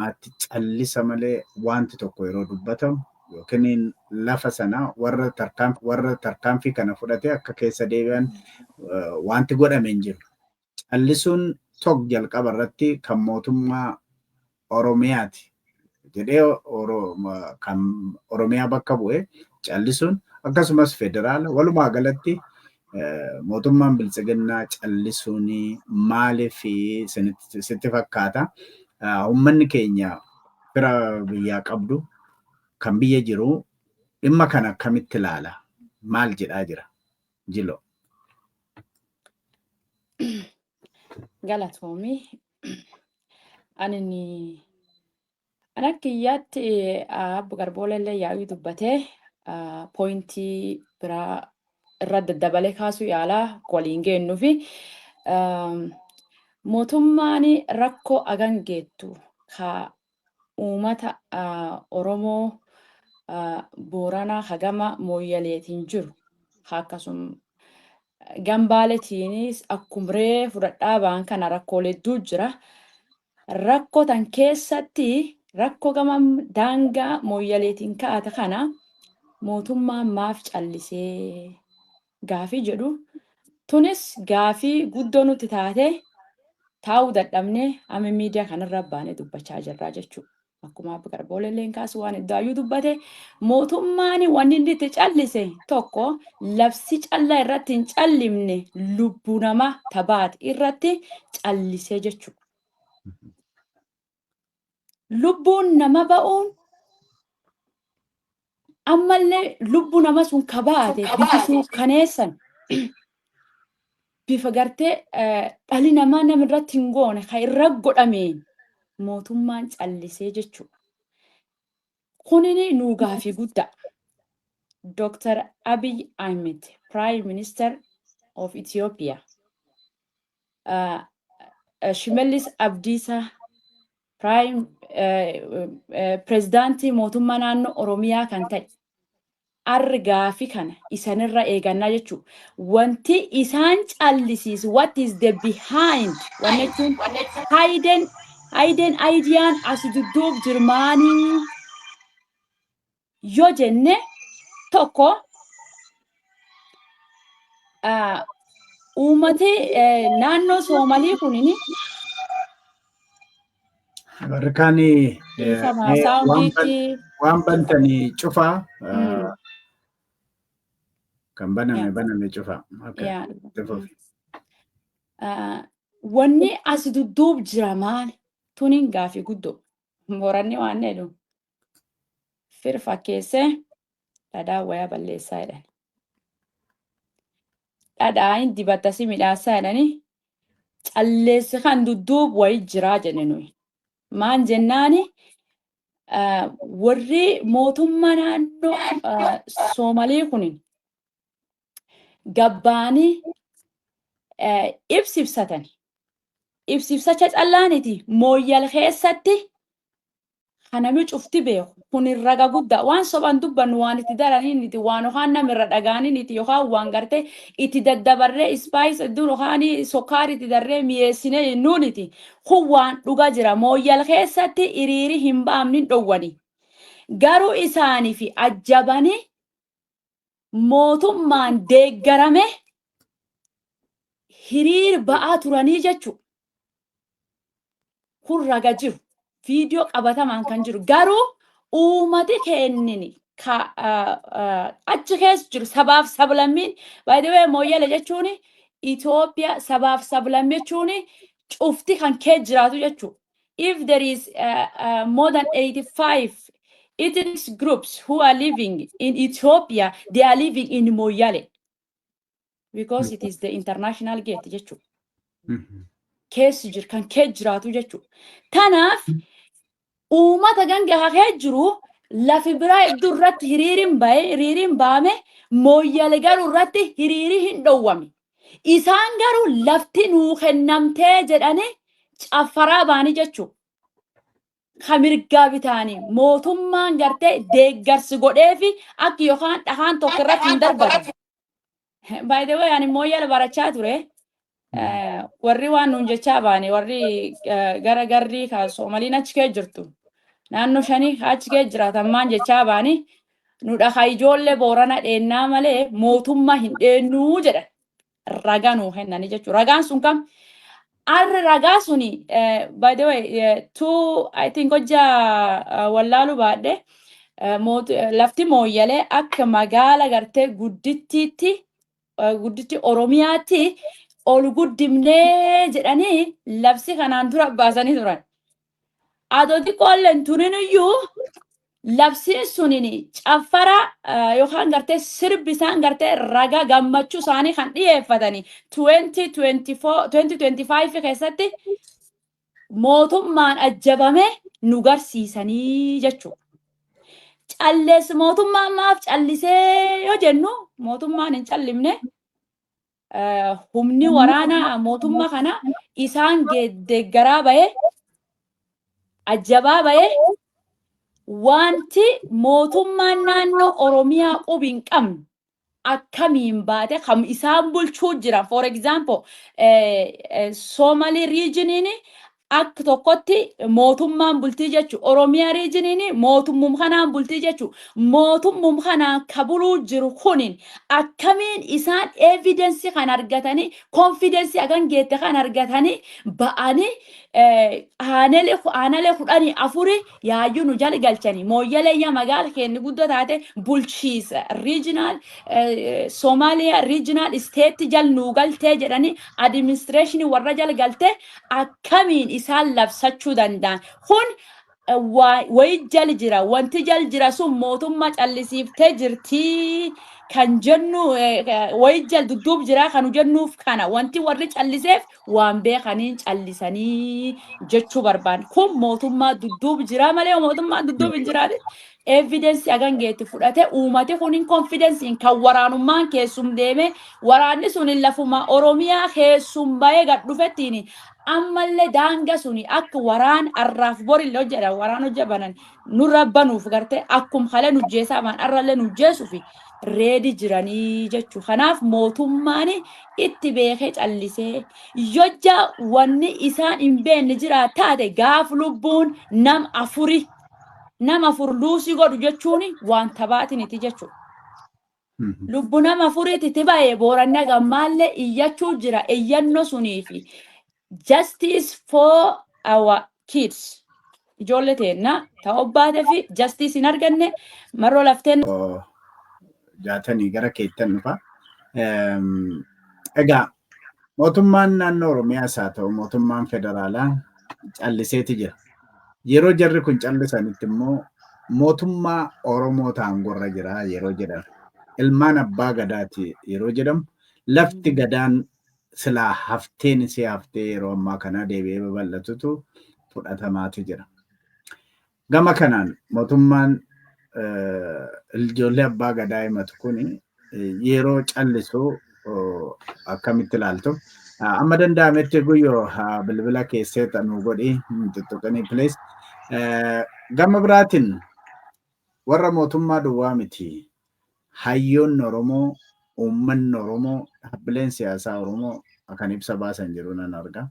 Ati callisa malee waanti tokko yeroo dubbatamu ykn lafa sana warra tarkaanfii warra tarkaanfii kana fudhatee akka keessa deebi'an waanti godhame hin jiru. Callisuun tokko jalqaba irratti kan mootummaa Oromiyaati jedhee kan Oromiyaa bakka bu'e callisuun akkasumas federaala walumaa galatti mootummaan biltsiginnaa callisuun maaliif sitti fakkaata? Uummanni keenya fira biyyaa qabdu kan biyya jiru dhimma kana akkamitti ilaala? Maal jedhaa jira? Jilo. Galatoomi. Ani An akka kiyyaatti abbo Garbooleellee yaa'ii dubbatee pooyintii biraa irra daddabalee kaasuu yaalaa waliin geennu fi mootummaan rakkoo agan geettu ka uumata Oromoo Booranaa hagama mooyyaleetiin jiru akkasum gambaaleetiinis akkum ree fudhadhaa ba'an kana rakkoolee hedduu jira. Rakko tan keessatti rakko gama daangaa Mooyyaleetiin ka'ate kana mootummaan maaf callisee gaafii jedhu tunis gaafii guddoo nutti taatee taa'uu dadhabnee amma miidiyaa kanarra baanee dubbachaa jirraa jechuudha. Akkuma Abba Garboolee illee kaasu waan iddaayyuu dubbate mootummaan wanni inni itti callise tokko labsi callaa irratti hin callimne lubbuu namaa tabaate irratti callisee jechuudha. Lubbuun nama ba'uun ammallee lubbu nama sun ka baate bifi suukkaneessan bifa gartee dhali namaa nama irratti hin goone ka irra godhameen mootummaan callisee jechuudha. Kunini nuu gaafii guddaa. Dr. Abiy Ahmed, Prime Minister of Ethiopia. Shimallis Abdiisaa Piraayim pirezidaantii mootummaa naannoo Oromiyaa kan ta'e argaa fi kana isanirra eegannaa jechuun wanti isaan callisiisu what is the behind wanni jechuun hidden hidden ideyaan asi dudduub jirmaanii yoo jenne tokko ah, uummati eh, naannoo Soomalii kunin Warrkaan dhiifama saawundiitti waan bantanii cufaa Mm. kan baname Yeah. baname cufaa. Okay. yaa Cufuuf. Ah, wanni asi dudduub jira maali? Tuniin gaafii guddoo. Moranni waan jedhu. fir fakkeessee dhadhaa wayaa balleessaa jedhan. Dhadhaa hin dibatta si midhaassaa jedhani calleessi kan dudduub wayi jiraa jenne nuyi. Maan jennaani ah, warri mootummaa naannoo ah, Soomalii kun gabbaanii eh, ibsi ibsatani. Ibsi ibsacha callaaniti mooyyal keessatti ka nami cufti beekhu. Kunin raga gudda. Waan soban dubbannu waan itti daraniniti, waan okaan nam irra dhagaaniniti yokaan waan garte itti daddabarre spice eddu yokaani sokkaari itti darre miyeessine jennuuniti. Kun waan dhuga jira. Mooyyal keessatti iriiri hin baamnin dhowwani. Garu isaanifi ajjabani mootummaan deeggarame hiriir ba'aa turanii jechu kun raga jiru viidiyoo qabatamaan kan jiru garuu uumati keennini ka- ah, ah, achi keessa jiru sabaaf sablammiin by the way mooyyale jechuun Itoophiyaa sabaaf sablammii jechuun cufti kan kee jiraatu jechuudha. if there is uh, uh, more than 85 ethnic groups who are living in Ethiopia, they are living in Moyale because it is the international gate jechuudha. Mhm. Keessa jiru kan keessa jiraatu jechuudha. Kanaaf uummata ganga hafee jiru lafi biraa iddoo irratti hiriiriin ba'e hiriiriin ba'ame Moyale garuu irratti hiriirii hin dhowwame. Isaan garuu lafti nuu kennamtee jedhanii caffaraa baanii jechuu. Ka mirgaa bitaanii mootummaan gartee deeggarsi godheefi akka yookaan dhahaan tokko irratti hin darbatan. By the way, ani mooyyala barachaa ture. Eh, Warri waan nuun jechaa baane, warri eh, gara garrii ka Soomaliin achi kee jirtu. Naannoo shanii ka achi kee jiraatan maan jechaa baani. Nu dhaha ijoollee Boorana dheennaa malee mootummaa hin dheennuu jedhan. Ragaa nuu kennanii jechuudha. Ragaan sun kam? Arri ragaa suni eh, by the way eh, two I think hojja eh, wallaaluu baadhe eh, moot- eh, lafti mooyyalee akka magaala gartee guddittiitti eh, gudditti Oromiyaatti ol guddimnee jedhanii labsi kanaan dura baasanii turan. Adoo xiqqoollee hin turin iyyuu labsiin suniin caffara eh, yookaan gartee sirbi isaan gartee raga gammachuu isaanii kan dhiyeeffatanii 2024 2025 keessatti mootummaan ajjabame nu garsiisanii jechuudha. Callees mootummaan maaf callisee yoo jennu mootummaan hin callimne eh, humni waraanaa mootummaa kana isaan ge- deeggaraa bahe ajjabaa bahe wanti mootummaan naannoo Oromiyaa qubi hin qabne akkamiin baate kam isaan bulchuu jiran for example eh, eh, Somali regioniin Akk tokkotti mootummaan bultii jechu Oromiyaa riijiniin mootummum kanaan bultii jechu mootummum kanaan ka buluu jiru kunin akkamiin isaan evidence kan argatanii confidence hagan geette kan argatanii ba'anii aanele aanale kudhanii afuri Yaayyuu nu jali galchani. Mooyyalee yaa magaala keenni guddoo taate bulchiisa regional eh, Somalia regional state jal nuu galtee jedhanii administration warra jal galtee akkamiin isaan labsachuu danda'an. Kun eh, waa- wayi jal jira wanti jal jira sun mootummaa callisiiftee jirtii kan jennu eh, eh, wayi jal dudduub jira kanu jennuuf kana wanti warri calliseef waan beekaniin callisanii jechuu barbaanne. Kun mootummaa dudduub jiraa malee yoo mootummaan dudduub hin jiraate evidensii hagan geetti fudhate uumate kun hin konfidensiin kan waraanummaan keessum deeme waraanni sun hin lafuma Oromiyaa keessum bahee gad dhufettiin ammallee daanga suni akka waraan arraaf borille hojjedha waraan hojja banan nurra banuuf gartee akkum halee nu jeesaa maan arrallee nu jeesuuf reedi jiranii jechuu kanaaf mootummaan itti beekee callisee yojja wanni isaan hin beenne jira taate gaaf lubbuun nam afuri nam afur luusii godhu jechuun waan tabaatiniti jechuudha. Lubbu nama afuriti ti baye booranna gammaalle iyyachuu jira iyyanno suniifi justice for our kids ijoolle teenna ta obbaatefi justice hin arganne marro lafteen jaatanii gara keettan dhufa. Egaa Mootummaan naannoo Oromiyaas haa ta'u mootummaan federaalaa calliseeti jira. Yeroo jarri kun callisanitti immoo mootummaa Oromoo taangorra jira yeroo jedhan ilmaan abbaa gadaati yeroo jedhamu lafti gadaan silaa hafteen isii haftee yeroo ammaa kanaa deebi'ee babal'atutu fudhatamaati jira. Gama kanaan mootummaan ijoollee abbaa gadaa himatu kun yeroo callisu akkamitti ilaaltu? Amma danda'ametti guyyoo bilbila keessee nu godhi tuttuqinii plees. Gama biraatiin warra mootummaa duwwaa miti. Hayyoonni Oromoo, uummanni Oromoo, dhaabbileen siyaasaa Oromoo kan ibsa baasan jiru nan arga.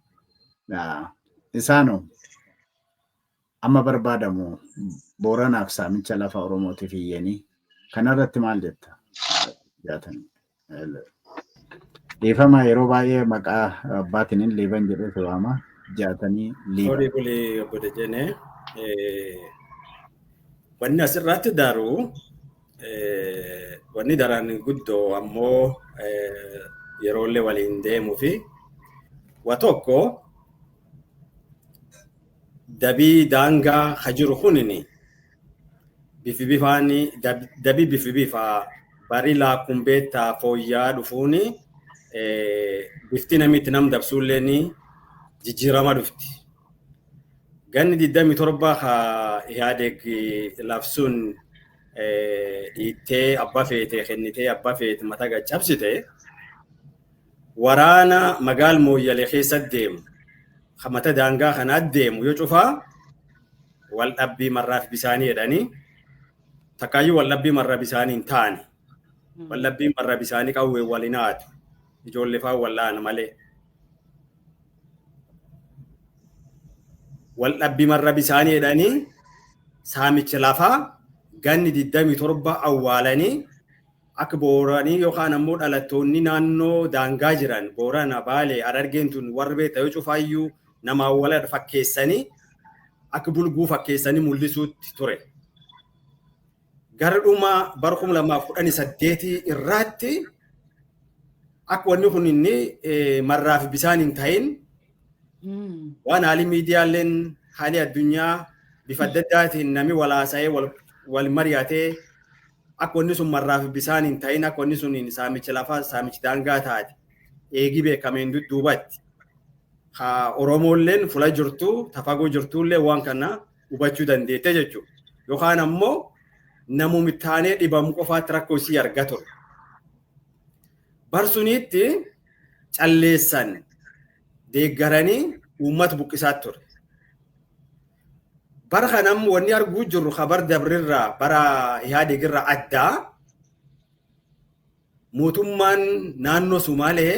Isaanoo Amma barbaadamu Booranaaf saamicha lafa Oromootiif iyyanii kanarratti maal jetta? Jaatan. Dhiifama yeroo baay'ee maqaa abbaatiin liiban jedhee si waama. Jaatanii liiban. Horii bulii obbo Dejene. Wanni asirratti daaru wanni daraan guddoo ammoo yeroollee waliin deemuu fi wa tokko dabii daangaa ka jiru kunini bifi bifaani dabi bifi bifa bari laakun beetta fooyyaa dhufuuni bifti namitti nam dabsuulleeni jijjiirama dhufti. Ganni 27 ka Ihaadeeg labsuun dhiittee abba feete kennitee abba feete mata gad cabsite waraana magaal mooyyale keessa deemu ka mata daangaa kanaa deemu yoo cufaa wal dhabbii marraaf bisaanii jedhanii takkaayyuu wal dhabbii marra bisaanii hin taane wal dhabbii marra bisaanii qawwee wal hin haatu ijoollee fa'aa wal dha'an malee. Wal dhabbii marra bisaanii jedhanii saamicha lafaa ganni 27 awwaalanii Akka Booranii yookaan ammoo dhalattoonni naannoo daangaa jiran Boorana, Baalee, Harargeen tun warri beekta yoo cufaayyuu namaan waladha fakkeessanii akka bulguu fakkeessanii mul'isuutti ture. Gara dhuma bara 2018 irraatti akka wanni kun inni marraa fi bisaan hin ta'in waan haalli miidiyaaleen haalli addunyaa bifa adda addaatiin namni wal haasa'ee wal mari'atee Akka wanni sun marraa fi bisaan hin ta'in akka wanni sun saamichi lafaa saamichi daangaa taate eegii beekameen dudduubatti. Ka Oromoolleen fula jirtu tafagoo jirtuullee waan kana hubachuu dandeette jechuudha. Yookaan ammoo namumi taanee dhibamu qofaatti rakkoo isii arga ture. Barsuniitti calleessan deeggaranii uummata buqqisaa ture. Bara kana ammoo wanni arguu jirru kabar dabrirraa bara Ihaadeegirraa addaa mootummaan naannoo Sumaalee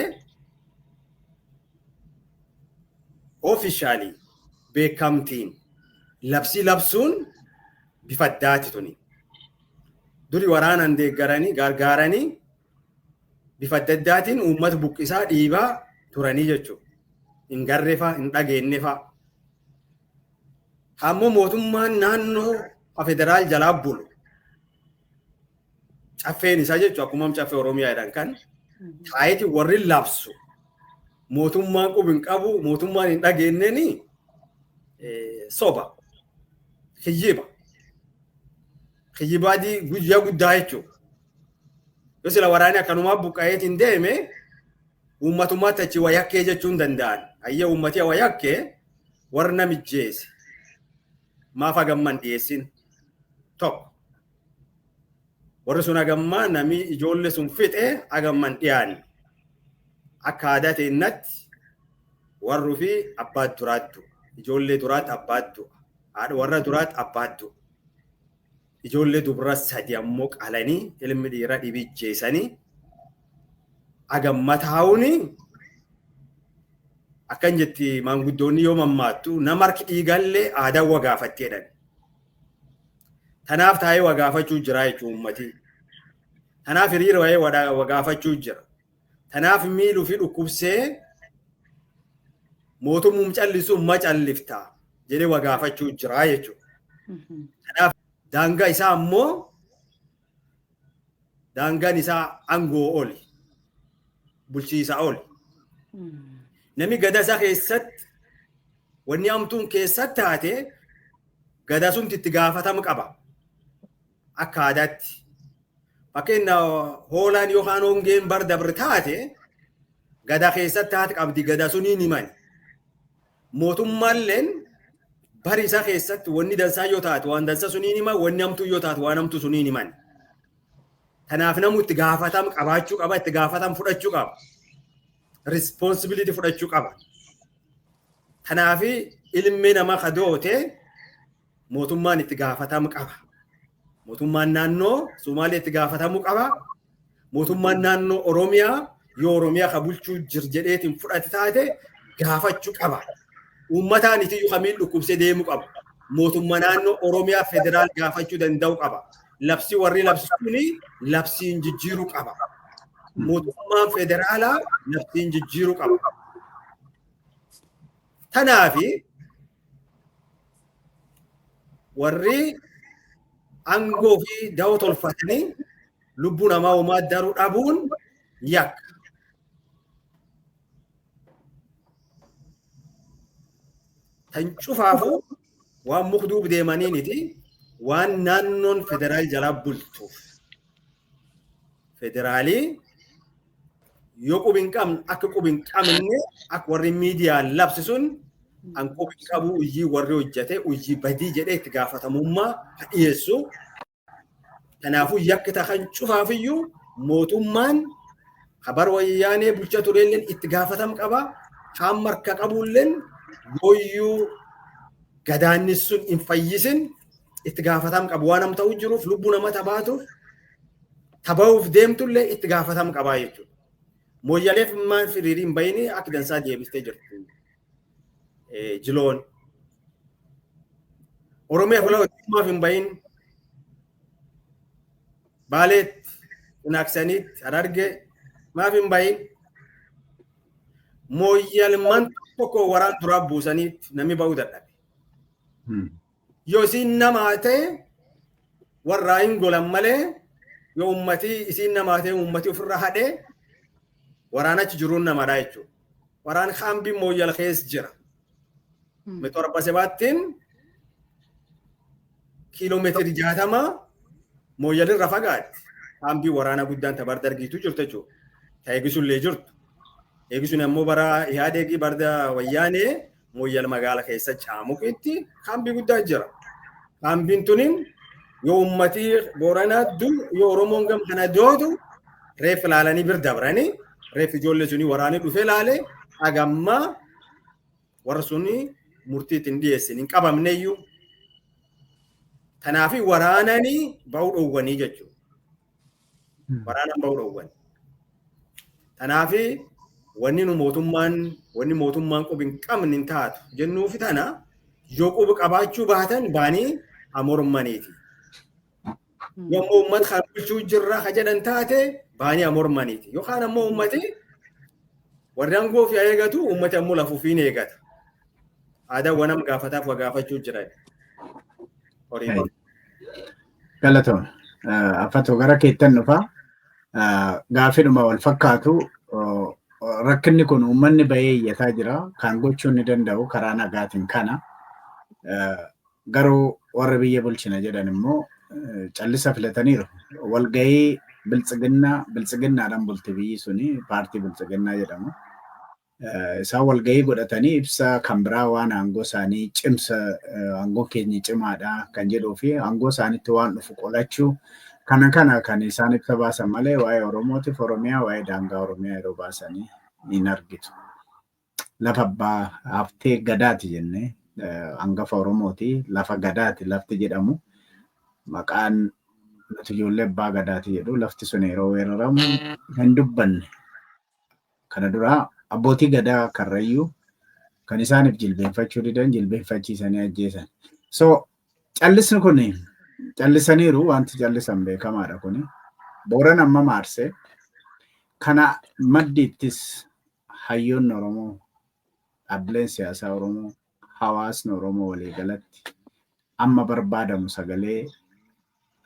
oofishaalii beekamtiin labsii labsuun bifa addaati tuni. Duri waraanaan deeggaranii gargaaranii bifa adda addaatiin uummata buqqisaa dhiibaa turanii jechuudha. Hin garreefaa, hin dhageenyefaa. Ammoo mootummaan naannoo federaal jalaa bulu. Caffeen isaa jechuudha akkuma caffee Oromiyaa jedhan kan taa'eeti warri labsu mootummaan qubi hin qabu mootummaan hin dhageenyeni soba kijjiba kijjibaa guyyaa guddaa jechuudha. Yoo sila waraanni akkanumaa buqqa'eetiin deeme uummatummaatti achi wayakkee jechuun danda'an. Hayyee uummatii wayakkee warra namijjeese maaf hagamman dhiyeessin tokko. Warri sun hagammaa nami ijoollee sun fixe hagamman dhiyaanne. Akka aadaa teennatti warri fi abbaa duraattu ijoollee duraatti abbaa du'a haadha warra duraatti abbaa du'a. Ijoollee dubra sadi ammoo qalanii ilmi dhiira dhibi jeesanii agamma taa'uuni akkan jetti maanguddoonni yoo mammaattu nama harki dhiigallee aadaa wa gaafatti jedhan. Tanaaf taa'ee wa gaafachuu jira jechuun uummatii. Tanaaf hiriira wa'ee wa gaafachuu jira. Tanaaf miil ufi dhukkubsee mootummuum callisu ma callifta jedhee wa gaafachuu jira jechuudha. Kanaaf daangaa isaa ammoo daangaan isaa aangoo oli bulchiisa oli. Nami gadaa isaa keessatti wanni hamtuun keessatti taate gadaa sumti itti gaafatama qaba. akka aadaatti. Fakkeenya hoolaan yookaan hongeen bar dabre taate gada keessatti haati qabdi gada sunii ni mani. Mootummaalleen bari isaa keessatti wanni dansaa yoo taate waan dansa sunii ni mani wanni hamtuu yoo taate waan hamtuu sunii ni mani. Kanaaf namni itti gaafatam qabaachuu qaba itti gaafatam fudhachuu qaba. Responsibility fudhachuu qaba. Kanaaf ilmi nama kadoote mootummaan itti gaafatamu qaba. Mootummaan naannoo Somaalee itti gaafatamu qaba. Mootummaan naannoo Oromiyaa yoo Oromiyaa ka bulchuu jir jedheetiin fudhate taate gaafachuu qaba. Uummataan isiyyuu kamiin dhukkubsee deemu qaba. Mootummaa naannoo Oromiyaa federaal gaafachuu danda'u qaba. Labsii warri labsu kuni labsiin jijjiiruu qaba. Mootummaan federaalaa labsiin jijjiiruu qaba. Tanaafi warri aangoo fi da'oo tolfatanii lubbuu namaa uumaa daruu dhabuun yakka. Tan cufaafuu waan mukduuf deemaniiniti waan naannoon federaal jalaa bultuuf. Federaalii yoo qubi hin qabne akka qubi hin qabne akka warri miidiyaa labsi sun an qubi hin qabu hojii warri hojjete hojii badii jedhee itti gaafatamummaa ka dhiyeessu. Kanaafuu yakki tahan cufaafiyyuu mootummaan habar wayyaanee bulcha tureelleen itti gaafatam qaba. Kaan marka qabuulleen yooyyuu gadaannis sun hin fayyisin itti gaafatam qabu waan amma ta'u jiruuf lubbuu nama tabaatuuf tabahuuf deemtullee itti gaafatam qabaa jechuudha. Mooyyaleef maal firiiriin bayinii akka dansaa deebistee jirtu jiloon. Oromiyaa fula hojjummaaf hin bayin baaleetti hinaaksaniitti harargee maaf hin bayin mooyyalman tokko waraan duraa buusaniitti namni ba'uu dadhabe. Yoo isiin namaa ta'e warraa hin golan malee yoo ummatii isiin namaa ta'e ummatii ofirra hadhee waraan achi jiruun namadha jechuudha. Waraan kaambiin mooyyal keessa jira. Mixorba sebaattiin kiiloomeetirii jaatama mooyyalirra fagaatti. Kaambii waraanaa guddaan tabar dargiitu jirtu jechuudha. Ta eegisuullee jirtu. Eegisuun ammoo bara Ihaadeegii barda wayyaanee Mooyyal magaala keessa caamuqitti kaambii guddaa jira. Kaambiin tuniin yoo uummatii booranaa du yoo Oromoon gam kana doodu reef ilaalanii bir dabranii reef ijoollee sunii waraanii dhufee ilaalee hagammaa warra sunii murtiitti hin dhiyeessin hin qabamneyyuu. Kanaafi waraananii ba'uu dhoowwanii jechuudha. Waraanaan bahuu dhoowwan. Kanaaf wanni nu mootummaan wanni mootummaan qubi hin qabne hin taatu jennuufi tana yoo qubi qabaachuu baatan baanii haa mormaniiti. Yoo ammoo uummata kan bulchuu jirra ka jedhan taate baanii haa mormaniiti. Yookaan ammoo uummati warri aangoo ofii haa eegatu uummati ammoo lafa ofii ni eegata. Aadaan wanam gaafataaf waa gaafachuu jiran. Horii Galatoom. Affatoo gara keettan dhufa. Gaafidhuma wal fakkaatu rakkinni kun uummanni bahee iyyataa jira. Kan gochuu ni danda'u karaa nagaatiin kana. Garuu warri biyya bulchina jedhan immoo callisa filataniiru. Walgahii biltsiginnaa biltsiginnaadhaan bulti biyyi suni paartii biltsiginnaa jedhamu. Isaan walgahii godhatanii ibsa kan biraa waan aangoo isaanii cimsa aangoon keenya cimaadha kan jedhuu fi aangoo isaanitti waan dhufu qolachuu kana kana kan isaan ibsa baasan malee waa'ee Oromootiif Oromiyaa waa'ee daangaa Oromiyaa yeroo baasanii hin argitu. Lafa abbaa haftee gadaati jennee hangafa Oromooti lafa gadaati lafti jedhamu maqaan nuti ijoollee abbaa gadaati jedhu lafti sun yeroo weeraramu hin dubbanne Kana dura abbootii gadaa karrayyuu kan isaaniif jilbeenfachuu didan jilbeenfachiisanii ajjeesan. So callisni kun callisaniiru wanti callisan beekamaadha kun. Booran amma maarsee kana maddiittis hayyoonni Oromoo dhaabbileen siyaasaa Oromoo hawaasni Oromoo waliigalatti amma barbaadamu sagalee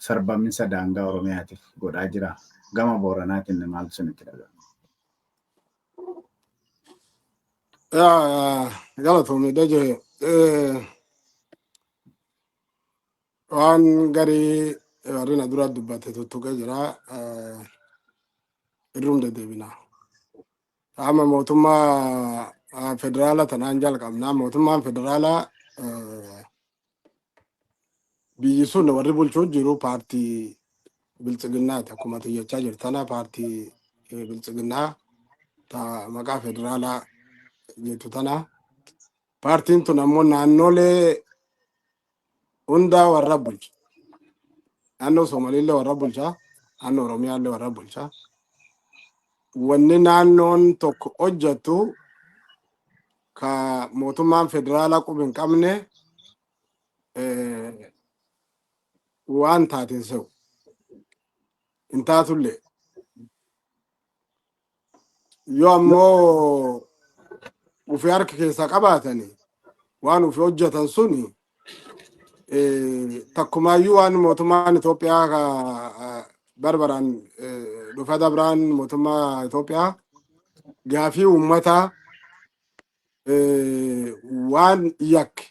sarbaminsa daangaa Oromiyaatiif godhaa jira? Gama Booranaatiin maaltu isinitti dhaga'ama? Galatoomi Dajee. Waan garii warri na dura dubbate tuttuqee jira. Irruun deddeebina. Qaama mootummaa federaala tanaan jalqabnaa mootummaan federaalaa biyyi sun warri bulchuu jiru paartii biltsiginnaati akkuma tiyyachaa jirtana paartii biltsiginnaa ta maqaa federaalaa jettu tana paartiin tun ammoo naannolee hundaa warra bulcha. Naannoo Somaaliillee warra bulcha. Naannoo Oromiyaallee warra bulcha. Wanni naannoon tokko hojjettu ka mootummaan federaalaa quba hin qabne eh, waan taate hin se'u. Hin taatullee. Yoo ammoo ofii harka keessaa qabaatanii waan ofii hojjetan suni takkumaayyuu waan mootummaan Itoophiyaa ka barbaraan dhufa dabraan mootummaa Itoophiyaa gaafii uummataa waan yakke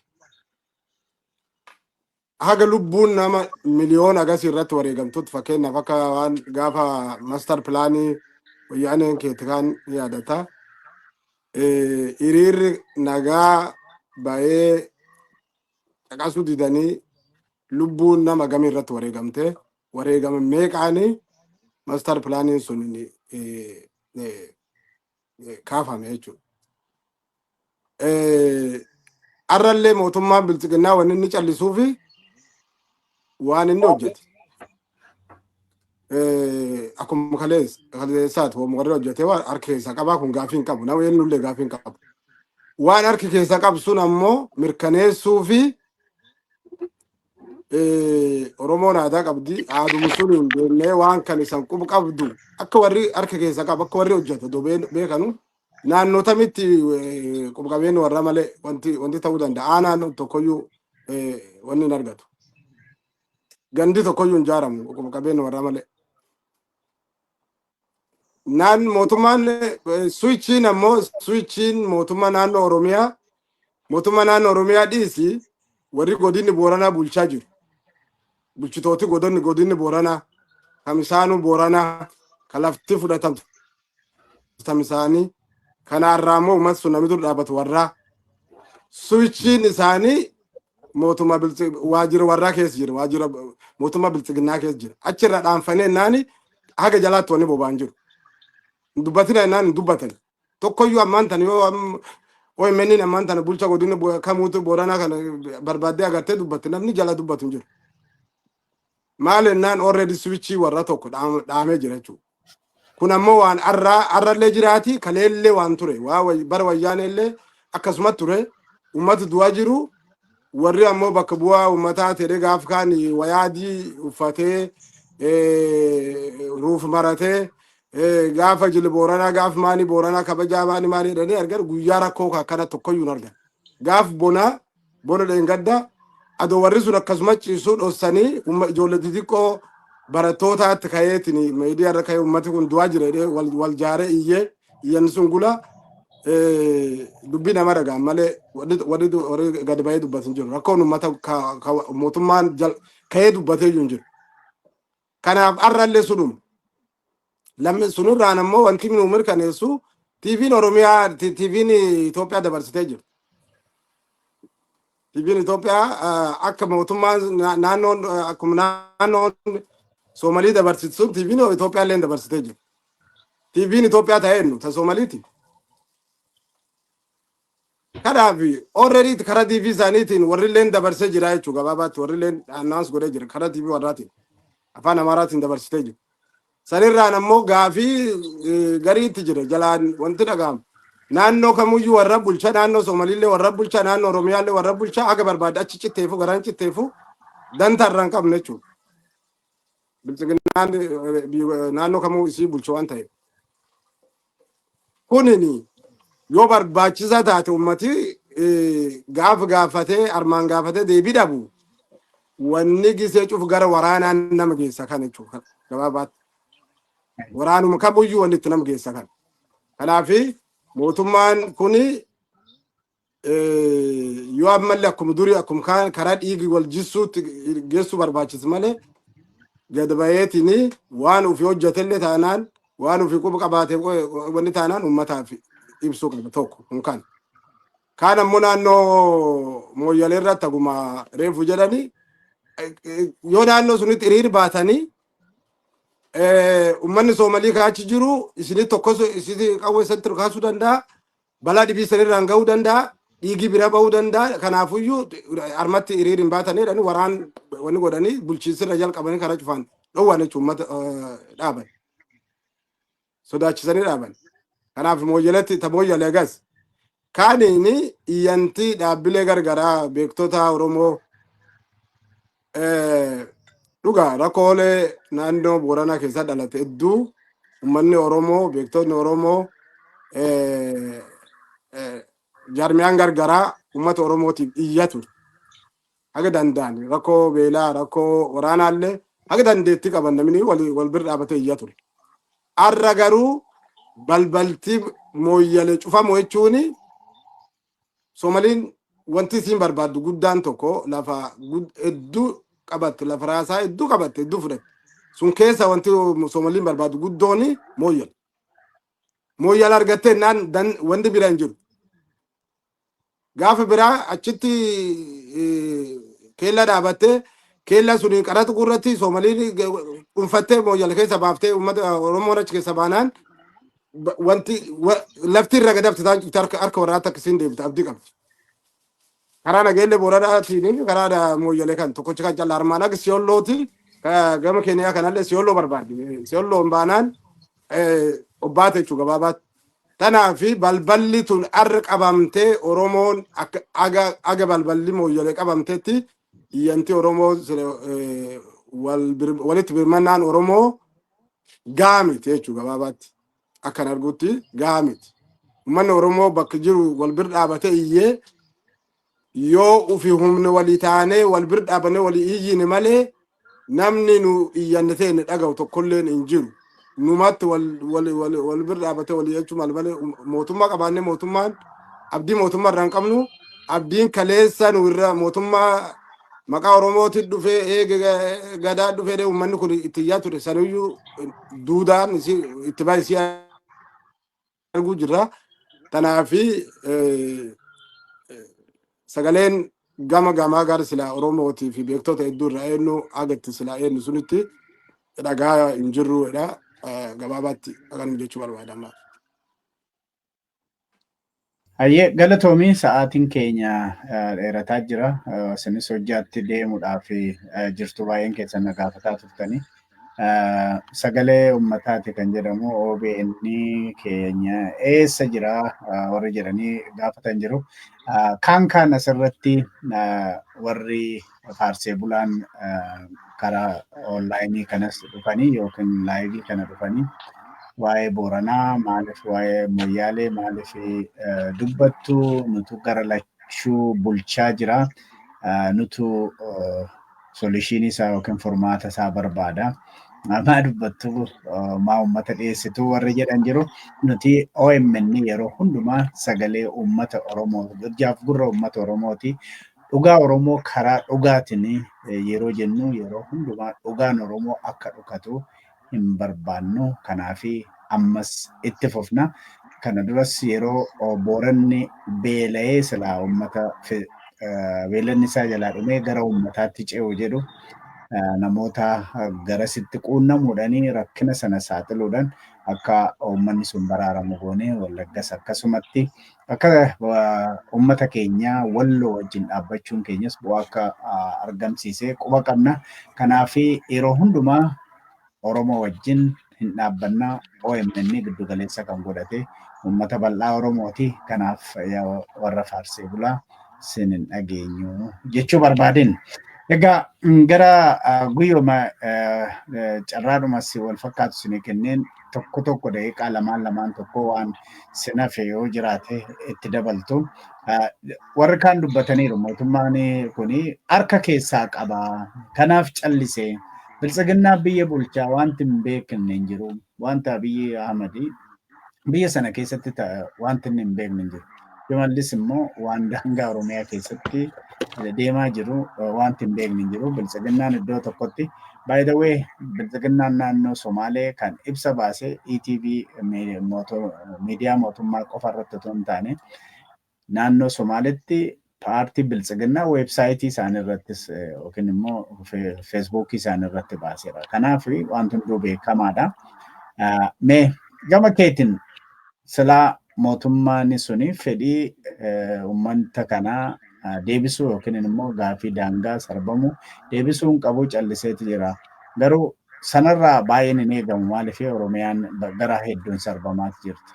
haga lubbuun nama miliyoona agasii irratti wareegamtutti fakkeenyaaf akka waan gaafa master pilaanii wayyaaneen keetti kaan ni yaadata. Eh, Hiriirri nagaa bahee caqasuu didanii lubbuun nama gamii irratti wareegamte wareegama meeqaanii master pilaaniin sun eh, eh, eh, kaafame jechuudha. Eh, Har'allee mootummaan bilxiginnaa waan inni callisuu fi waan inni hojjete. Eh, Akkuma kalees kaleessaati waan warri hojjete waan harka keessaa qabaa kun gaafii hin qabu. Nama eenyullee gaafii hin qabu. Waan harki keessaa qabu sun ammoo mirkaneessuu fi Oromoon aadaa qabdi. Aaduma sun hin deemnee waan kan isan qubu qabdu akka warri harka keessa qabu akka warri hojjeta do beekanu naannoo tamitti qubu qabeenyi warra malee wanti wanti ta'uu danda'a. Aanaan tokkoyyuu wanni hin argatu. Gandi tokkoyyuu hin jaaramu qubu qabeenyi warra malee. naan mootummaan suwichiin ammoo suwichiin mootummaa naannoo Oromiyaa mootummaa naannoo Oromiyaa dhiisi warri godinni Booranaa bulchaa jiru. Bulchitooti godonni godinni Booranaa kamisaanuu Booranaa kan lafti fudhatamtu tamisaanii kanaarraa immoo uummata sun namni dur dhaabatu warraa suwichiin isaanii mootummaa biltsi waajjira warraa keessa jira waajjira mootummaa biltsiginnaa keessa jira achirra dhaanfanee naani haga jalaatti wanni boba'an jiru hin dubbatina naan hin dubbatan tokkoyyuu ammaan tana yoo am- OMN ammaan tana bulcha godina bo- kamuutu booranaa kana barbaaddee agartee dubbatte namni jala dubbatu hin jiru maal ennaan already switchii warra tokko dhaam- dhaamee jira jechuudha Kun ammoo waan arraa arrallee jiraati kaleellee waan ture waa way- bara wayyaaneellee akkasuma ture ummata du'aa jiru warri ammoo bakka bu'aa ummataa ta'e gaaf kaan wayaa adii uffatee eh, ruuf maratee eh, gaafa jili booranaa gaaf maanii booranaa kabajaa maanii maanii jedhanii argan guyyaa rakkoo kan akkana tokkoyyuu hin argan gaaf bonaa Bona dheengadda adoo warri sun akkasuma ciisuu dhossanii umma ijoollee xixiqqoo barattootaatti ka'eetiin miidiyaa irra ka'ee ummati kun du'aa jira jedhee wal wal jaaree iyyee iyyanni sun gula eh, dubbii nama dhagaan malee warri warri du- warri gad ba'ee dubbatu hin jiru. Rakkoon ummata ka- ka- mootummaan jal- ka'ee dubbatee iyyuu hin jiru. Kanaaf har'allee sunuma. Lammi sunurraan ammoo wanti nu mirkaneessu TV'n Oromiyaa T- TV'n Itoophiyaa dabarsitee jirti. TV'n Itoophiyaa ah, akka mootummaan na- naannoon ah, akkuma naannoon Soomalii dabarsitu sun TV'n Itoophiyaa illee dabarsitee jirti. TV'n Itoophiyaa ta'ee nu ta Soomaliiti. Kanaafi, already karaa TV isaaniitiin warrilleen dabarsee jira jechuu gabaabaatti warrilleen announce godhee jira karaa TV warraatiin afaan Amaaraatiin dabarsitee jiru. Sanirraan ammoo gaafii eh, gariitti jira jalaan wanti dhaga'amu. Naannoo kamuyyuu warra bulcha naannoo Somalillee warra bulcha naannoo Oromiyaallee warra bulcha haga barbaade achi citteefu garaan citteefu dantaa irraa hin qabne jechuudha. Bilxiginnaan eh, biyya- naannoo kamuu isii bulchu waan ta'eef. Kunini yoo barbaachisaa taate ummati eh, gaaf gaafatee armaan gaafatee deebii dhabu wanni gisee cuf gara waraanaan nama geessa kana jechuudha. Gabaabaatti waraanuma kamuyyuu wanni itti nama geessa kana. Kanaafi mootummaan kuni yoo ammallee akkuma durii akkuma kaan karaa dhiigi wal jissuutti geessuu barbaachisa malee gad baheetini waan ofii hojjetellee taanaan waan ofii quba qabaate wanni taanaan uummataaf ibsuu qaba tokko kun kan. Kaan ammoo naannoo mooyyalee irratti akkuma reefu jedhani yoo naannoo sunitti hiriir baatanii uummanni soomalii kaachi jiru isinii tokkos isinii qawwee isatti kaasuu danda'a. Balaa dhibii sanirraan gahuu danda'a. Dhiigii bira bahuu danda'a. Kanaafuyyuu harmatti hiriira hin baatanii jedhanii waraan wanni godhanii bulchiinsirra jalqabanii karaa cufaan dhowwaan jechuun uummata eh, dhaaban. Sodaachisanii dhaaban. Kanaaf mooyyaleetti ta mooyyale agas. Kaaniin iyyantii dhaabbilee gargaraa beektota Oromoo Eh, Dhugaa rakkoolee naannoo Booranaa keessaa dhalate hedduu uummanni Oromoo, beektonni Oromoo, eh, eh, jaarmiyaan gargaraa uummata Oromootiif iyyaa ture. Haga danda'an rakkoo beelaa, rakkoo waraanaallee haga dandeettii qaban namni walii wal bira dhaabatee iyyaa ture. Har'a garuu balbalti mooyyale cufamu jechuun Somaliin wanti isiin barbaaddu guddaan tokko lafa gud- hedduu qabatte lafa raasaa hedduu qabatte hedduu fudhatte. Sun keessa wanti Somaliin barbaaddu guddoon mooyyal. Mooyyal argattee naan dan- wanti bira hin jiru. Gaafa biraa achitti eh, keella dhaabattee keella suniin qaraxa gurratti Somaliin dhuunfattee mooyyal keessa baaftee uummata Oromoon achi keessa baanaan Ba- Wanti wa- lafti irra gadabte isaan cufte harka harka warraa takka siin deebite abdii qabdi. Karaa nageellee booranaatiin karaa da- mooyyalee kan tokkochi kan callaa armaan akka siyollootiin ka- gama keeniyaa kanallee siyolloo barbaaddi. Siyolloon baanaan eh, obbaate jechuudha gabaabaatti. Tanaa fi balballi tun arra qabamtee Oromoon akka aga aga balballi mooyyalee qabamtetti Iyyanti Oromoo walitti birmannaan Oromoo gahaa miti jechuudha gabaabaatti. Akkan argutti gahaa miti. Uummanni Oromoo bakka jiru wal bir dhaabate iyyee yoo ufi humni walii taanee wal bir dhaabane walii iyyine malee Namni nu iyyanne teenne dhaga'u tokkolleen hin jiru. Numatti wal wal wal wal bira dhaabatee wal iyyachuu mal malee um- mootummaa qabaannee mootummaan abdii mootummaa irraa hin qabnu. Abdiin kaleessa nu irra mootummaa maqaa Oromootiin dhufee eege ga- gadaa dhufee dee uummanni kun itti iyyaa ture sanuyyuu duudaan isii itti baay'isii arguu jirra. Kanaaf sagaleen gama gamaa gara silaa Oromootii fi beektota hedduu irraa eenyu haga itti silaa eenyu sunitti dhagaa hin jirru jedha. Gabaabaatti akkanuma jechuu barbaada ammaa. Hayyee galatoomii sa'aatiin keenya eh, dheerataa jira. Eh, Isinis hojjaatti deemuudhaaf eh, jirtu baay'een keessan na gaafataa turtanii. sagalee ummataati kan jedhamu OBN keenya eessa jira warri jedhanii gaafatan jiru. Kaan kaan asirratti warri faarsee bulaan karaa onlaayinii kanas dhufanii yookiin laayivii kana dhufanii waa'ee Booranaa maaliif waa'ee Moyyaalee maaliif dubbattu nutu gara lachuu bulchaa jira nutu solishiinii isaa yookiin furmaata isaa barbaada. Maa dubbattu maa uummata dhiyeessitu warri jedhan jiru. Nuti OMN yeroo hundumaa sagalee uummata Oromoo hojjaaf gurra uummata Oromooti. Dhugaa Oromoo karaa dhugaatiin yeroo jennu yeroo hundumaa dhugaan Oromoo akka dhukatu hin barbaannu kanaafi ammas itti fufna. Kana duras yeroo Booranni beela'ee silaa uummata beelanni isaa jalaa dhumee gara uummataatti ce'u jedhu namoota garasitti quunnamuudhaan rakkina sana saaxiluudhaan akka uummanni sun baraaramu goone Wallaggas akkasumatti Akka uummata keenya walloo wajjin dhaabbachuun keenyas bu'aa akka argamsiise quba qabna. Kanaaf yeroo hundumaa Oromoo wajjin hin dhaabbanna. OMN giddu galeessa kan godhate uummata bal'aa Oromooti. Kanaaf warra faarsee bulaa sin hin dhageenyu jechuu barbaadeen. Egaa gara guyyooma carraadhumas wal fakkaatu isinii kenneen tokko tokko daqiiqaa lamaan lamaan tokko waan sinafe yoo jiraate itti dabaltu. Warri kaan dubbataniiru mootummaan kun harka keessaa qaba. Kanaaf callisee biltsiginnaa biyya bulchaa wanti hin beekne hin jiru. Wanta Abiyyi Ahmad biyya sana keessatti wanti inni hin beekne hin jiru. Shimallis immoo waan daangaa Oromiyaa keessatti deemaa jiru wanti hin beekne hin jiru. Biltsiginnaan iddoo tokkotti By the way, Bilxiginnaan naannoo Somaalee kan ibsa baase ETV miidiyaa mootummaa qofa irratti otoo hin taane naannoo Somaaleetti paartii Bilxiginnaa weebsaayitii isaanii irrattis yookiin immoo feesbuukii isaanii irratti baaseera. Kanaaf wanti hunduu beekamaadha. Mee gama keetiin silaa mootummaan suni fedhii ummanta kanaa deebisuu yookiin immoo gaafii daangaa sarbamu deebisuu hin qabu calliseeti jira. Garuu sanarraa baay'een hin eegamu maaliif Oromiyaan gara hedduun sarbamaati jirti.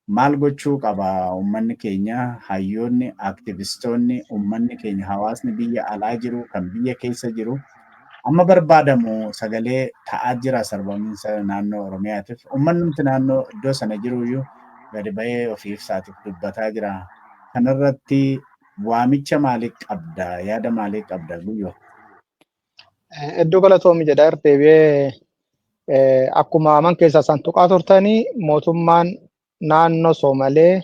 Maal gochuu qaba ummanni keenya hayyoonni, aktivistoonni, ummanni keenya hawaasni biyya alaa jiru kan biyya keessa jiru Amma barbaadamu sagalee ta'aa jira sarbamiinsa naannoo Oromiyaatiif. Ummannumti naannoo iddoo sana jiruyyuu gadi ba'ee ofii ibsaatiif dubbataa jira. Kanarratti waamicha maalii qabda? Yaada maalii qabda Guyyoo? Hedduu galatoomi jedha irra deebi'ee akkuma aman keessaa isaan tuqaa turtanii mootummaan naannoo Soomalee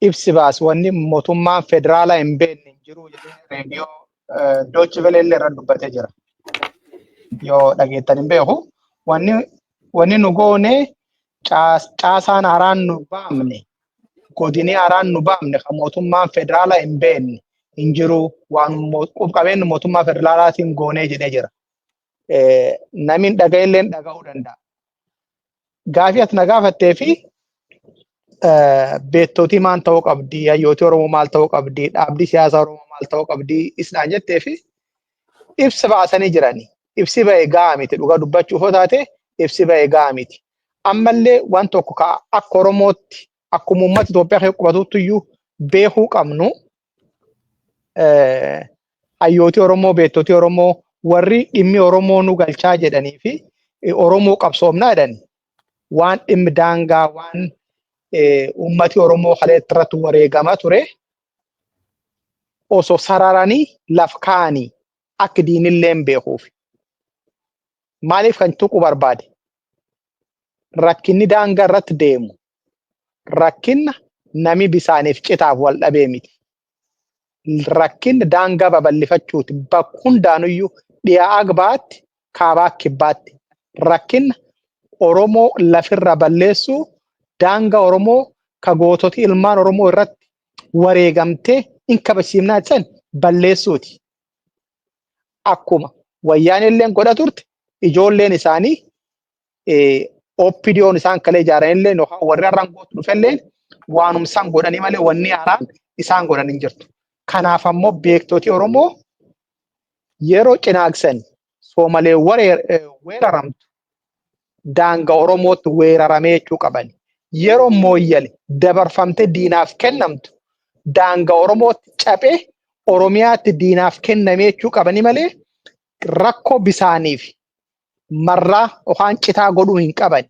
ibsi baase wanni mootummaan federaalaa hin beekne hin jiru jedhee reediyoo Doochi Velee illee irra dubbatee jira. Yoo dhageettan hin beeku. Wanni wanni nu goone caas- caasaan haaraan nu baamne godinii haaraan nu baamne kan mootummaan federaalaa hin beekne hin jiru waan mo- qub qabeenyi mootummaa federaalaatiin goonee jedhee jira. Eh, Namni hin dhaga'e illee dhaga'uu danda'a. gaafii ati na gaafattee fi beektootii maal ta'uu qabdi, hayyootii Oromoo maal ta'uu qabdi, dhaabbii siyaasaa Oromoo maal ta'uu qabdi isnaan jettee fi ibsa baasanii jirani. Ibsi ba'e gahaa miti dhugaa dubbachuuf yoo taate ibsi ba'e gahaa miti. Ammallee waan tokko ka akka Oromootti akkuma uummata Itoophiyaa keessa qubatutti iyyuu beekuu qabnu hayyooti Oromoo, beektoti Oromoo warri dhimmi Oromoo nu galchaa jedhanii fi Oromoo qabsoomnaa jedhan waan dhimmi daangaa waan uummati Oromoo kaleetti irratti wareegama ture osoo sararanii laf kaa'anii akka diinillee hin beekuuf. Maaliif kan tuquu barbaade? Rakkinni daangaa irratti deemu rakkinna nami bisaaniif citaaf wal dhabee miti. Rakkinna daangaa babal'ifachuuti bakka hundaanuyyuu dhiyaa agbaatti kaabaa kibbaatti rakkinna Oromoo lafirra balleessuu daanga Oromoo ka goototi ilmaan Oromoo irratti wareegamtee in kabajsiifnaa jedhan balleessuuti. Akkuma wayyaaneen illeen godha turte ijoolleen isaanii OPDOn isaan kalee ijaaran illee yookaan warri har'aan gootu dhufe illee waanum isaan godhanii malee wanni haaraan isaan godhan hin jirtu. Kanaaf ammoo beektoti Oromoo yeroo cinaagsan soomalee weeraramtu daanga Oromootti weeraramee jechuu qaban. Yeroo mooyyale dabarfamtee diinaaf kennamtu daanga Oromootti caphee Oromiyaatti diinaaf kennamee jechuu qabanii malee rakkoo bisaaniif marraa yookaan citaa godhuu hin qaban.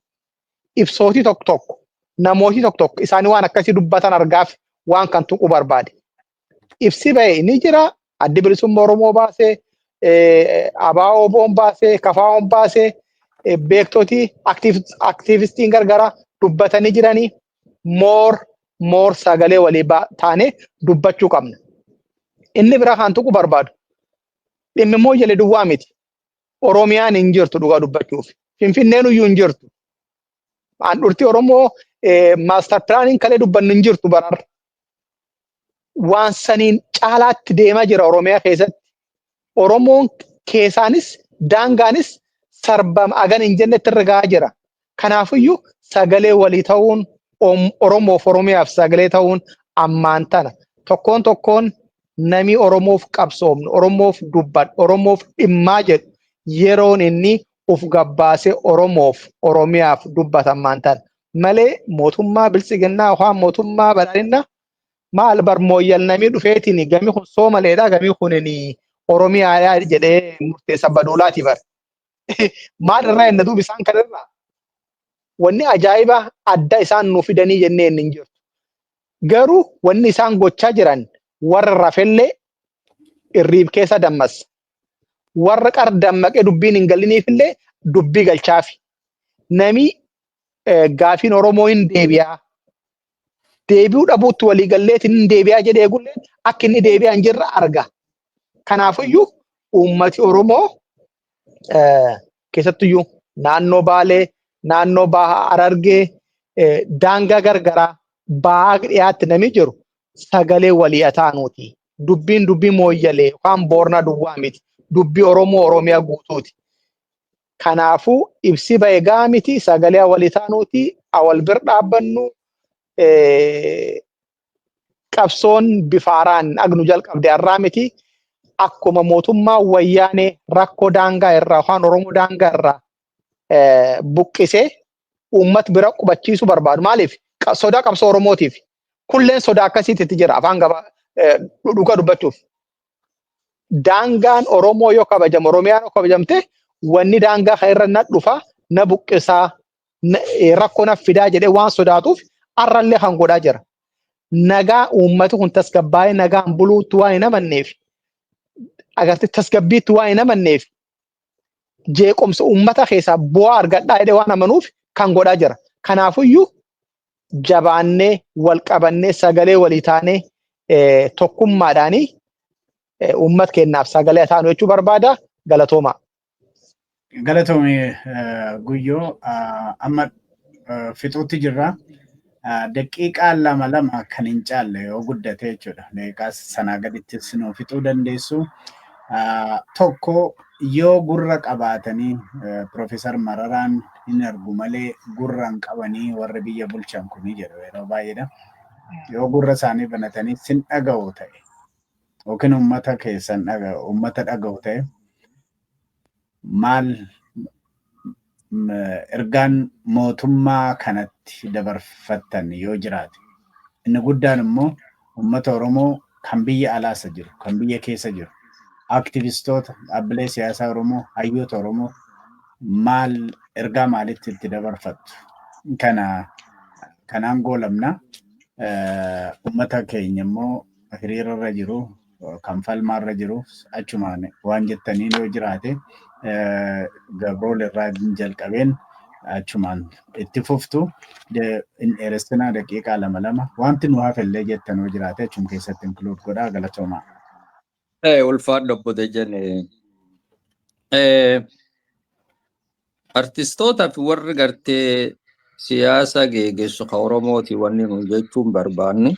Ibsootii tokko tokko namootii tokko tokko isaanii waan akkasii dubbatan argaaf waan kan tuquu barbaade. Ibsi ba'e ni jira addi bilisummaa Oromoo baasee abaa'oo boon baasee kafaa'oon baasee beektotii aktiivistiin gargaraa dubbatanii jiranii moor moor sagalee walii taanee dubbachuu qabna. Inni biraa kan tuquu barbaadu dhimmi mooyyalee duwwaa miti. Oromiyaan hin jirtu dhugaa dubbachuuf. Finfinneen iyyuu hin jirtu. Handhuurti Oromoo maastar pilaaniin kalee dubbannu hin jirtu barar. Waan saniin caalaatti deemaa jira Oromiyaa keessatti. Oromoon keessaanis daangaanis sarbama agan hin jennetti irra gahaa jira. Kanaafiyyuu sagalee walii ta'uun Om- Oromoof Oromiyaaf sagalee ta'uun ammaan tana tokkoon tokkoon namii Oromoof qabsoomnu, Oromoof dubbadhu, Oromoof dhimmaa jedhu yeroon inni uf gabbaasee Oromoof Oromiyaaf dubbata ammaan tana. Malee mootummaa biltsiginnaa yookaan mootummaa badhaadhinna maal bar mooyyal namii dhufeetiin gami kun soomaleedha gami kunin Oromiyaadha jedhee murteessa baduulaati bar. maal irraa enna duuba isaan kan irraa wanni ajaa'ibaa adda isaan nu fidanii jennee inni hin jirtu. Garuu wanni isaan gochaa jiran warra rafellee irriib keessa dammassa. Warra qar dammaqee dubbiin hin galiniifillee dubbii galchaafi. Namii gaafiin Oromoo hin deebi'aa. deebi'uu dhabuutti walii galleetiin hin deebi'aa jedhee eegullee akka inni deebi'aa hin jirre arga. Kanaafiyyuu uummati Oromoo keessattuyyuu naannoo Baalee, naannoo Baha Harargee, daangaa gargaraa bahaa dhiyaatti namni jiru sagalee walii ataanuuti. Dubbiin dubbii mooyyalee yookaan boornaa duwwaa miti. Dubbii Oromoo Oromiyaa guutuuti. Kanaafuu ibsi bahe gahaa miti sagalee walitaanuuti awal bir dhaabbannu qabsoon bifa haaraan agnu jalqabde har'aa miti akkuma mootummaa wayyaanee rakkoo daangaa irraa afaan oromoo daangaa irraa buqqisee uummat bira qubachiisu barbaadu maaliif sodaa qabsoo oromootiif kulleen sodaa akkasiitti jira afaan gaba dhugaa dubbachuuf daangaan Oromoo yoo kabajamu Oromiyaan yoo kabajamte wanni daangaa kana irra na dhufa na buqqisaa na- eh, rakkoo na fidaa jedhee waan sodaatuuf har'allee kan godhaa jira. Nagaa uummati kun tasgabbaa'ee nagaan buluutti waan hin amanneef agartee tasgabbiitti waan hin amanneef jeequmsa uummata keessaa bu'aa argadhaa jedhee waan amanuuf kan godhaa jira. Kanaafiyyuu jabaannee wal qabannee sagalee walii taanee tokkummaadhaanii uummat keenyaaf sagalee taanu jechuu barbaada galatoomaa. Galatoomi guyyoo amma fixuutti jirra. Daqiiqaa lama lama kan hin caalle yoo guddate jechuudha. Daqiiqaa sanaa gadittis nu fixuu dandeessu. Tokko yoo gurra qabaatanii Piroofeesar Mararaan hin argu malee gurra hin qabanii warri biyya bulchan kuni jedhu yeroo baay'eedha. Yoo gurra isaanii banatanii sin dhaga'u ta'e yookiin uummata keessan uummata dhaga'u ta'e maal ergaan mootummaa kanatti dabarfattan yoo jiraate inni guddaan immoo uummata Oromoo kan biyya alaasa jiru kan biyya keessa jiru aktivistoota dhaabbilee siyaasaa Oromoo hayyoota Oromoo maal ergaa maalitti itti dabarfattu kana kanaan goolabna uummata keenya immoo hiriirarra jiru kan falmaarra jiruuf achumaan waan jettaniin yoo jiraate gabrool irraa jalqabeen achumaan itti fuftu hin dheeressinaa daqiiqaa lama lama wanti nu hafellee jettan yoo jiraate achum keessatti inkluud godhaa galatoomaa. Ulfaadhu obbo Dejjane. Artistoota fi warri gartee siyaasa geegessu ka Oromooti wanni nuun jechuun barbaannu.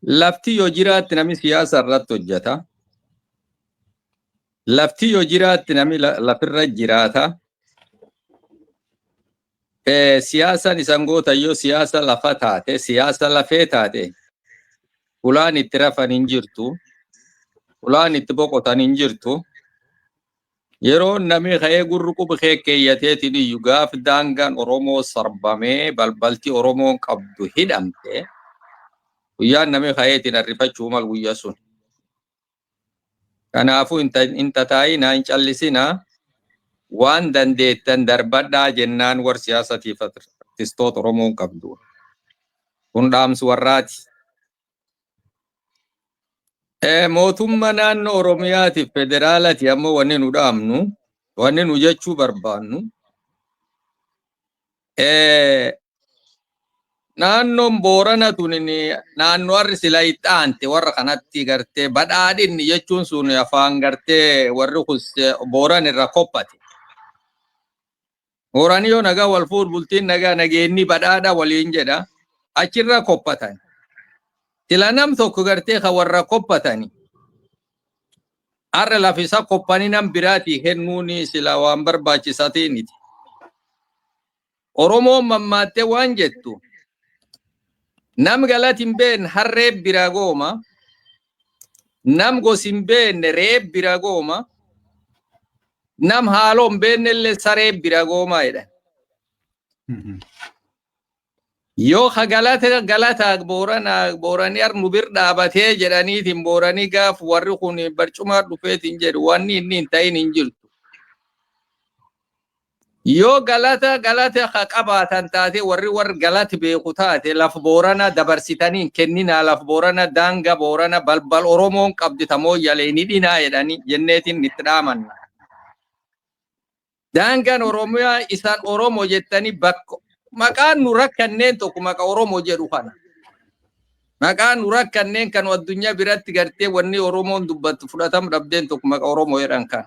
Lafti yoo jiraatti namni siyaasa irratti hojjeta. Lafti yoo jiraatti namni la- lafirra jiraata. Eh, Siyaasaan isan goota yoo siyaasa lafa taate, siyaasa lafee taate, ulaan itti rafan hin jirtu, ulaan itti boqotan hin jirtu. Yeroo namii ka'ee gurri qub kee keeyyateetiin iyyu gaaf daangaan Oromoo sarbamee balbalti Oromoon qabdu hidhamte guyyaan namii ka'eetiin arrifachuu mal guyya sun. Kanaafuu hin tataa'inaa hin callisinaa waan dandeettan darbadhaa jennaan war siyaasatiif artistoota Oromoon qabdu. Kun dhaamsi warraati. Mootummaa naannoo Oromiyaatiif federaalati ammoo wanni nu dhaamnu, wanni nu jechuu barbaannu, naannoon Boorana tun naannoo harri sila itti aante warra kanatti gartee badhaadhinni jechuun sun afaan gartee warri kun Booran irra kophate. Hooraan yoo nagaa wal fuudhu bultiin nagaa nageenni badhaadha waliin jedha. Achirraa kophatan. Sila nam tokko gartee kan warra kophatani. Har'a lafisa kophanii nam biraatii kennuun sila waan barbaachisaa ta'e miti. Oromoon mammaattee waan jettu nam galati hin beekne harree biraa gooma. nam gosi hin beenne re'ee bira gooma, nam haaloo hin beenne illee saree bira gooma jedhan. Yoo ka galata galata booranaa booranii ar nu bir dhaabatee jedhaniitiin booranii gaaf warri kun barcumaa dhufeetiin jedhu wanni inni hin ta'in hin jirtu. Yoo galata galata ka qabaatan taate warri warr galat beeku taate laf boorana dabarsitani hin kenninaa laf boorana daanga boorana balbal oromoon qabdi ta mooyyalee hin hidhinaa jedhani jenneetin itti dhaamanna. Daangan oromiyaa isan oromo jettani bakka maqaan nu rakkanneen tokko maqa oromo jedhu kana. Maqaan nu rakkanneen kan addunyaa biratti gartee wanni oromoon dubbattu fudhatam dhabdeen tokko maqa oromo jedhan kana.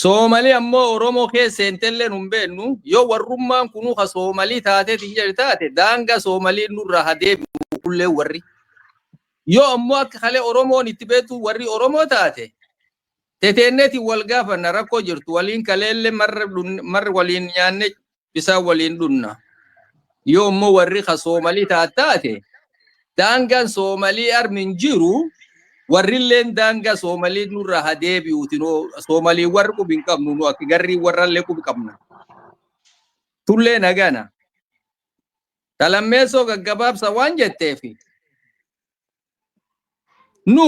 Soomalii ammoo Oromoo keessa seentellee nun beennu, yoo warrummaan kunuu ka Soomalii taateetiin jedhe taate daangaa Soomaliin nurraa ha deebi'u kulleen warri. Yoo ammoo akka kalee Oromoon itti beektu warri Oromoo taate teteenneetiin wal gaafanna rakkoo jirtu waliin kaleellee marra marra waliin nyaanne isaan waliin dhunna. Yoo immoo warri ka Soomalii taataate daangaan Soomalii armin jiru warrilleen daangaa Soomalii nurra ha deebi'uuti noo Soomalii warri qubi hin qabnu nu akka garrii warrallee qubi qabna. Tullee nagana. Talammeessoo gaggabaabsa waan jetteefi nu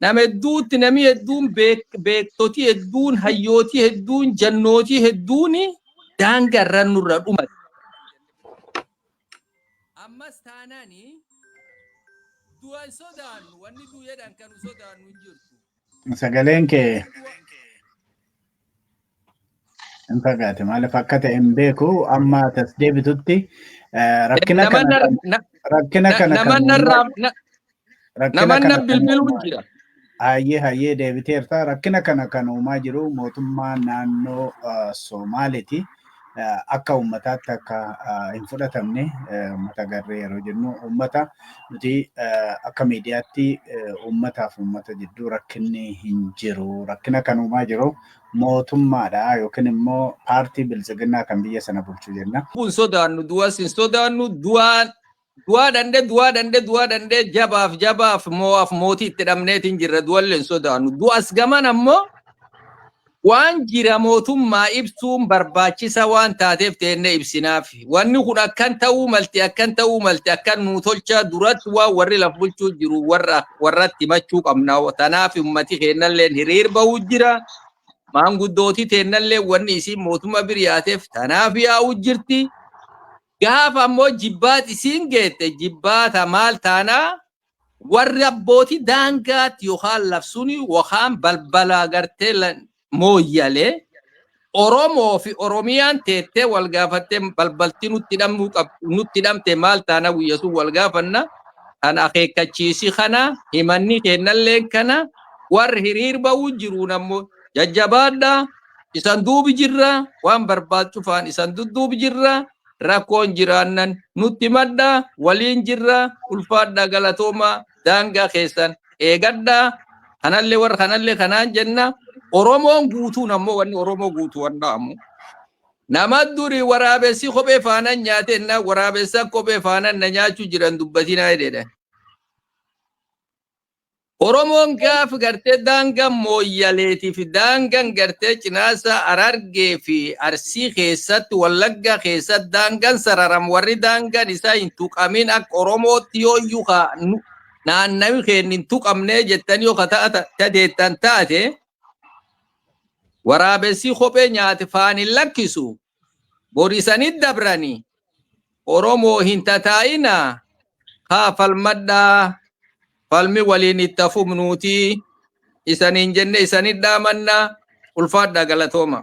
nama hedduutti namni hedduun beek- beektotii hedduun hayyootii hedduun jannootii hedduun daangaa irra nurra dhumate. Ammas taanaan du'a hin sodaannu wanni du'eedhaan kan nu sodaannu hin jirtu. Sagaleen kee Namni du'a- Hin fagaate maaliif akka ta'e hin beeku amma tas deebitutti eh, rakkina Nama kana kan- na- rakkina na- kana nama kan narraa na- rakkina nama kana na kan bilbiluun uumaa jira. Hayyee hayyee deebiteerta rakkina kana kan uumaa jiru mootummaa naannoo eh, Somaaleeti. akka uummataatti akka hin fudhatamne uummata garree yeroo jennu uummata nuti akka miidiyaatti uummataaf uummata jidduu rakkinni hin jiru rakkina kan uumaa jiru mootummaadha yookiin immoo paartii biltsiginnaa kan biyya sana bulchu jenna. Kun sodaannu du'as hin sodaannu du'aan Du'aa dhandhe du'aa dhandhe du'aa dhandhe jabaaf jabaaf moo'aaf mootii itti dhabneetiin jirra du'allee hin sodaannu. Du'as gaman ammoo waan jira mootummaa ibsuun barbaachisa waan taateef teennee ibsinaaf. Wanni kun akkan ta'uu malti akkan ta'uu malti akkan nuu tolchaa duratti waan warri laf bulchuu jiru warra warratti himachuu qabna. Tanaaf ummati keennalleen hiriir bahuu jira. Maanguddooti teennallee wanni isiin mootummaa bir yaateef tanaaf yaa'uu jirti. Gaafa ammoo jibbaat isiin geette jibbaata maal taana warri abbootii daangaatti yookaan labsuun yookaan balbala gartee la- mooyyalee Oromoo fi Oromiyaan teettee wal gaafattee balbalti nutti hidhamuu qab nutti hidhamte maal taana guyya sun wal gaafanna kan akeekkachiisi kana himanni keennalleen kana warri hiriir ba'uu jiruun ammoo jajjabaadhaa isan duubi jirra waan barbaad cufaan isan dudduubi jirra rakkoon jiraannan nutti himadha waliin jirra ulfaadha galatooma daangaa keessan eegadha kanallee warra kanallee kanaan jenna oromoon guutuun ammoo wanni oromoo guutuu wanna ammoo nama duri waraabessi kophee faanan nyaate na waraabessa kophee faanan na nyaachuu jiran dubbatinaa jedhedha Oromoon gaafa gartee daangaa Mooyyaleetii fi daangaan gartee Cinaasaa Harargee fi Arsii keessatti Wallaggaa keessatti daangaan sararam warri daangaan isaa hin tuqamin akka Oromootti yoo iyyuu ka nu- naannawi keenya hin tuqamnee jettan yoo ka ta'a- ta- tateettan taate waraabessii kophee nyaate faan hin lakkisu borisanit dabrani oromoo hin tataa'ina kaa falmadhaa falmi waliin itti fufnuutii isaniin jenne isanit dhaamanna ulfaadhaa galatooma.